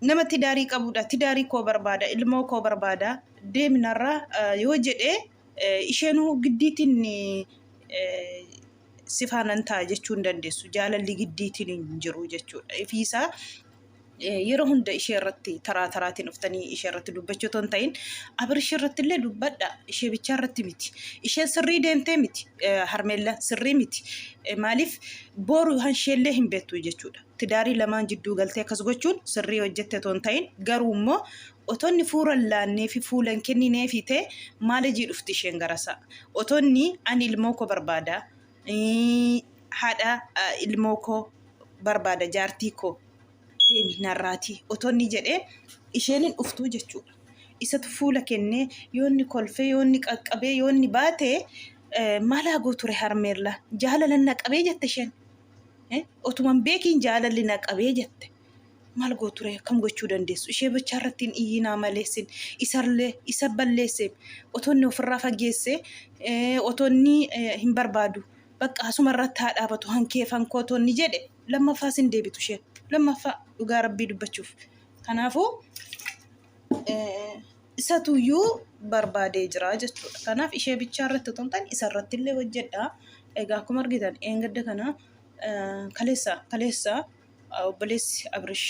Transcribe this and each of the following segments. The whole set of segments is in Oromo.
Nama tidaarii qabuudha. Tidaarii koo barbaada. Ilmoo koo barbaada. Deemi narraa eh, yoo jedhe eh, isheenuu giddiitiin eh, si faanan ta'a jechuu hin dandeessu. Jaalalli giddiitiin hin jiru jechuudha. Ifiisaa eh, yeroo hunda ishee irratti taraa taraatiin dhuftanii ishee irratti dubbachuu otoo hin ta'in abirshii irratti illee dubbadha ishee bichaa irratti miti isheen sirrii deemtee miti eh, harmeellaan sirrii miti Eh, maaliif booru hanshee illee hin beektu jechuudha. tidaarii lamaan jidduu galtee akkas gochuun sirrii hojjette otoo hin ta'in garuu immoo otonni fuuran laannee fi fuula hin kenninee fi ta'e maalejii dhufti isheen garasa otonni ani ilmoo koo barbaada haadha ilmoo koo barbaada jaartii koo deemi narraatii otonni jedhee isheen hin dhuftuu jechuudha. Isatu fuula kennee yoonni kolfee yoonni qaqqabee yoonni baate maalaa gooture harmeerla jaalalan naqabee jette isheen. Otuman beekiin jaalalli na qabee jette. Maal gooture akkam gochuu dandeessu? Ishee bichaa irratti hin iyyinaa maleessin isarlee isa balleesse otonni ofirraa fageesse otonni hin barbaadu. Bakka asuma irratti haa dhaabatu hankeefan kootonni jedhe lammaffaas hin deebitu isheen lammaffaa dhugaa rabbii dubbachuuf. Kanaafuu isatuyyuu barbaadee jira jechuudha. Kanaaf ishee bichaa irratti otoo hin taane isa irratti illee hojjedha. Egaa akkuma argitan eengadda kana kaleessa kaleessa obboleessi Abrish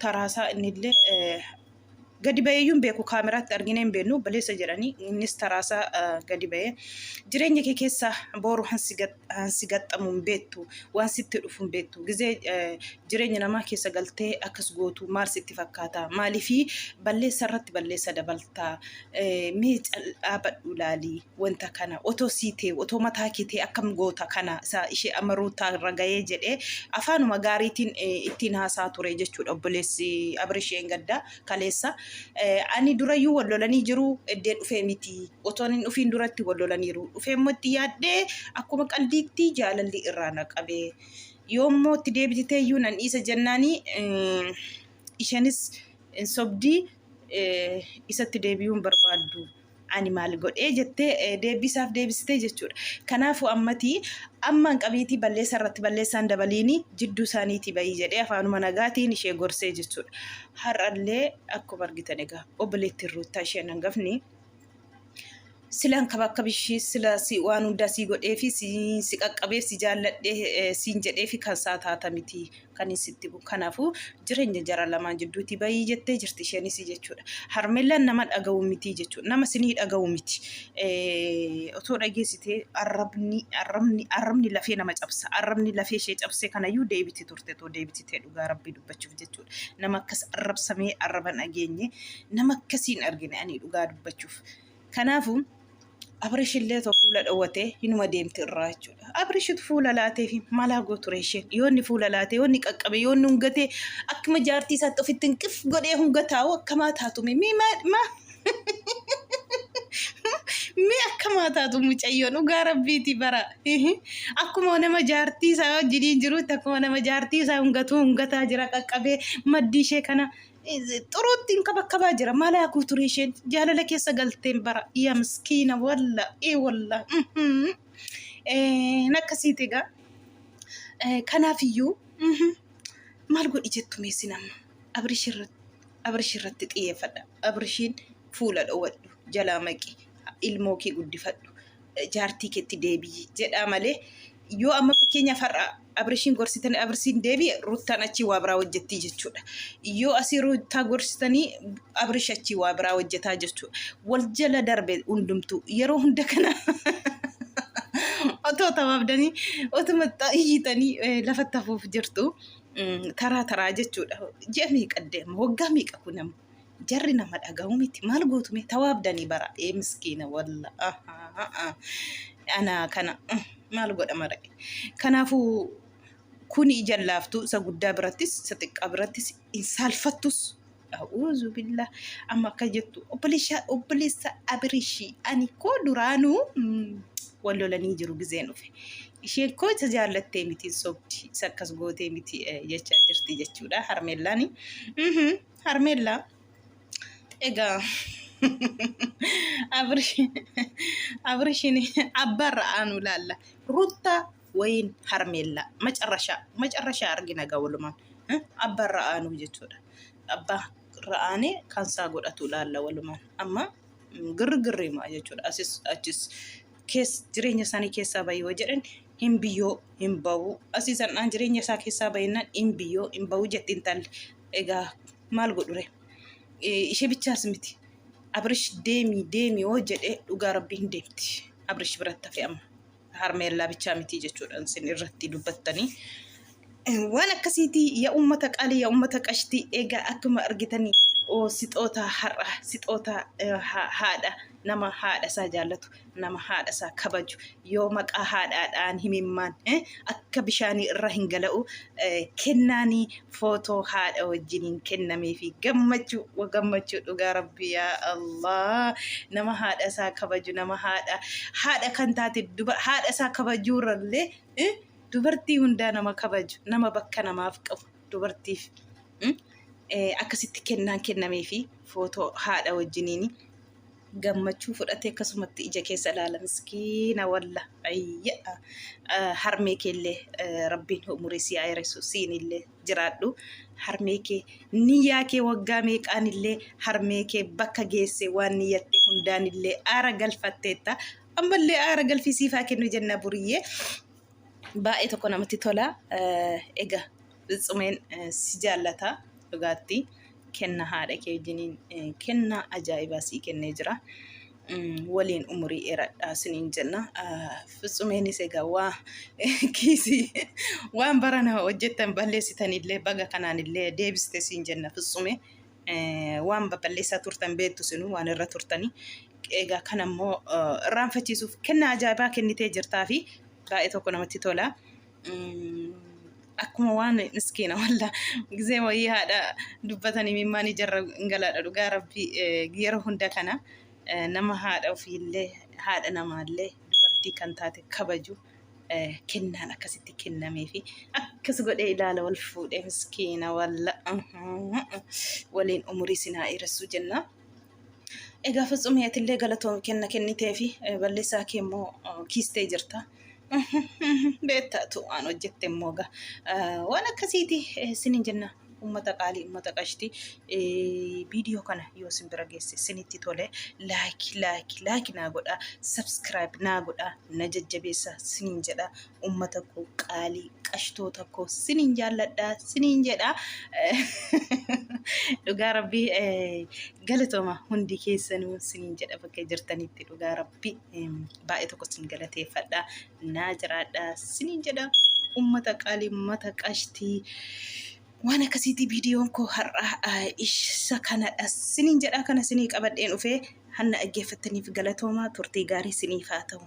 taraasaa inni illee gadi baheeyyuu hin beeku kaameraatti arginee hin beeknu obboleessa jedhanii innis taraasaa gadi bahee jireenya kee keessa booru hansi gatte. Waan si gaxxamu hin beektu, waan sitti dhufu hin beektu. Gizee jireenya namaa keessa galtee akkas gootu maal sitti fakkaata? Maaliif balleessa irratti balleessa dabalta? Mee dhaabadhu ilaali wanta kana. Otoo sii ta'e, otoo mataa kee ta'e akkam goota kana isa ishee amma ruutaa irra gahee jedhee afaanuma gaariitiin ittiin haasaa ture jechuudha obboleessi Abirisheen gaddaa kaleessa. Ani durayyuu wal lolanii jiru eddee dhufee miti. otoon hin dhufiin duratti wal lolaniiru. Dhufee immoo itti yaaddee akkuma qaldiitti jaalalli irraa na qabe. Yoo immoo itti deebitee iyyuu nan dhiisa jennaani isheenis hin sobdi isatti deebi'uu hin barbaaddu. Ani maal godhee jettee deebisaaf deebisitee jechuudha. Kanaafuu ammati ammaan qabiitii balleessaa irratti balleessaan dabaliini jidduu isaaniitii bayii jedhee afaanuma nagaatiin ishee gorsee jechuudha. Har'allee akkuma argitan egaa obboleettiin ruuttaa isheen hangafni silan kaba akka bishii sila si waan hundaa sii godhee fi si, si qaqqabee si jaalladhee eh, siin jedhee fi kan isaa taata miti kan hin sitti bu kanaafuu jireenya jara lamaan jidduuti bayii jettee jirti isheenis jechuudha harmeellaan nama dhaga'u miti jechuudha nama sinii dhaga'u miti eh, otoo dhageessitee arrabni arrabni arrabni lafee nama cabsa arrabni lafee ishee cabsee kanayyuu deebiti turte too deebititee dhugaa rabbii dubbachuuf jechuudha. nama akkas arrabsamee arraba dhageenye nama akkasii hin argine ani dhugaa dubbachuuf. Kanaafuu Abrish illee otoo fuula dhowwatee hinuma deemti irraa jechuudha. Abrishitu fuula laatee fi maalaa gooture isheen yoo inni fuula laatee yoo inni qaqqabe yoo inni hungatee akkuma jaartii isaatti ofitti hin qif godhee hunga taa'u akkamaa taatume mii maa Mee akkamaa taatu mucayyoon dhugaa rabbiiti bara. Akkuma nama jaartii isaa wajjiniin jirutti akkuma nama jaartii isaa hungatuu hungataa jira qaqqabee maddii ishee kana xuruutti hin kabakkabaa jira. Maal haa guuture isheen jaalala keessa galteen bara. Yaa miskiina walla ee walla. Nakkasiiti egaa. Kanaafiyyuu maal godhi jettu meessin amma. Abrish irratti Abrish irratti xiyyeeffadha. Abrishiin fuula dhowadhu jalaa maqi ilmoo kee guddifadhu jaartii keetti deebi'i jedhaa malee yoo amma fakkeenyaaf har'a Abrishiin gorsitanii Abrishiin deebi'e ruttaan achii waa biraa hojjettii jechuudha. Yoo asii ruttaa gorsitanii Abrish achii waa biraa hojjetaa jechuudha. Wal jala darbe hundumtuu yeroo hunda kana otoo tawaabdanii otuma iyyitanii lafatti hafuuf jirtu. taraa taraa jechuudha. Ji'a meeqa deema? Waggaa meeqa kun amma? Jarri nama dhaga'u miti. Maal gootu mee tawaabdanii bara? Ee miskiina walla. Anaa kana maal godha mara? Kanaafuu kuni jallaaftuu isa guddaa birattis isa xiqqaa birattis hin saalfattus. A'uuzu billah amma akka jettu obboleessaa obboleessa abirishii ani koo duraanuu mm, wal lolanii jiru gizeen dhufe isheen koo isa jaallattee miti hin sobdi isa akkas gootee miti eh, jechaa jirti jechuudha harmeellaani Mhm, harmeellaa egaa abirish abirishiin abbaarra aanu laalla ruttaa Wayiin harmeellaa macarrashaa macarrashaa argina gaa walumaan eh, abbaa irra aanuu jechuudha. Abbaa irra aanee kan isaa godhatu ilaalla walumaan. Amma mm, girgirri himaa jechuudha. Asis achis kees jireenya isaanii keessaa bahi yoo jedhan hin biyyoo hin bahu. Asii san'aan jireenya isaa keessaa bahinnaan hin biyyoo hin bahu jetti intalli. Egaa maal godhure? Eh, Ishee bichaas miti. Abrish deemi deemi yoo jedhe dhugaa rabbii hin deemti. Abrish biratti hafe amma. harmeellaa bichaa mitii jechuudhaan isin irratti dubbattanii waan akkasiitii yaa uummata qaalii yaa uummata qashtii egaa akkuma argitanii oo sixoota har'a sixoota eh, ha- haadha nama haadha isaa jaallatu nama haadha isaa kabaju yoo maqaa haadhaadhaan himimmaan eh, akka bishaanii irra hin gala'u kennaanii footoo haadha wajjiniin kennamee fi gammachuu wa gammachuu dhugaa rabbi yaa Allah nama haadha isaa kabaju nama haadha haadha kan taate duba haadha isaa kabajuu irrallee eh, dubartii hundaa nama kabaju nama bakka namaaf qabu dubartiif mm, eh, akkasitti kennaan kennamee fi footoo haadha wajjiniin gammachuu fudhatee akkasumatti ija keessa ilaala miskiina walla ayya harmee keellee rabbiin umurii si ayresu siinillee jiraadhu harmee kee niyyaa kee waggaa meeqaanillee harmee kee bakka geesse waan niyyatte hundaanillee aara galfatteetta ammallee aara galfii siifaa kennu jenna buriyyee baay'ee tokko namatti tola egaa Fitsumeen si jaallata dhugaatti kenna haadha kee wajjiniin kenna ajaa'ibaa sii kennee jira. Waliin umurii dheeradhaa siniin jenna. Fitsumeenis egaa waa kiisii waan barana hojjettan balleessitanillee baga kanaanillee deebiste siin jenna Fitsumee. Waan balleessaa turtan beektu sinuu waan irra turtanii. Egaa kan ammoo irraanfachiisuuf kenna ajaa'ibaa kennitee jirtaa fi baay'ee tokko namatti tola. akkuma waan miskiina walla gizee wayii haadha dubbatan imimmaan ijarra galaadha dhugaa rabbii yeroo hunda kana nama haadha ofiillee haadha namaallee dubartii kan taate kabaju kennaan akkasitti kennamee fi akkas godhee ilaala wal fuudhee miskiina walla waliin umurii sinaa dheeressuu jennaa. Egaa Fitsumii atillee galatoon kenna kennitee fi balleessaa kee immoo kiistee jirta. Beektaatu waan hojjette immoo egaa waan akkasiiti sinin jenna ummata qaalii ummata qashtii viidiyoo kana yoo sin bira geesse sinitti tole laayiki laayiki laayiki naa godha sabskiraayib naa godha na jajjabeessa sinin jedha. ummata koo qaalii qashtoota koo siniin jaalladha siniin jedha dhugaa rabbii eh, galatooma hundi keessanuu siniin jedha bakka jirtanitti dhugaa rabbii em, baay'ee tokko sin galateeffadha naa jiraadha siniin jedha ummata qaalii ummata qashtii waan akkasiitii viidiyoon koo har'a ah, isa kanadha siniin jedha kana sinii qabadheen dhufee hanna dhaggeeffattaniif galatoomaa turtii gaarii siniif haa ta'u.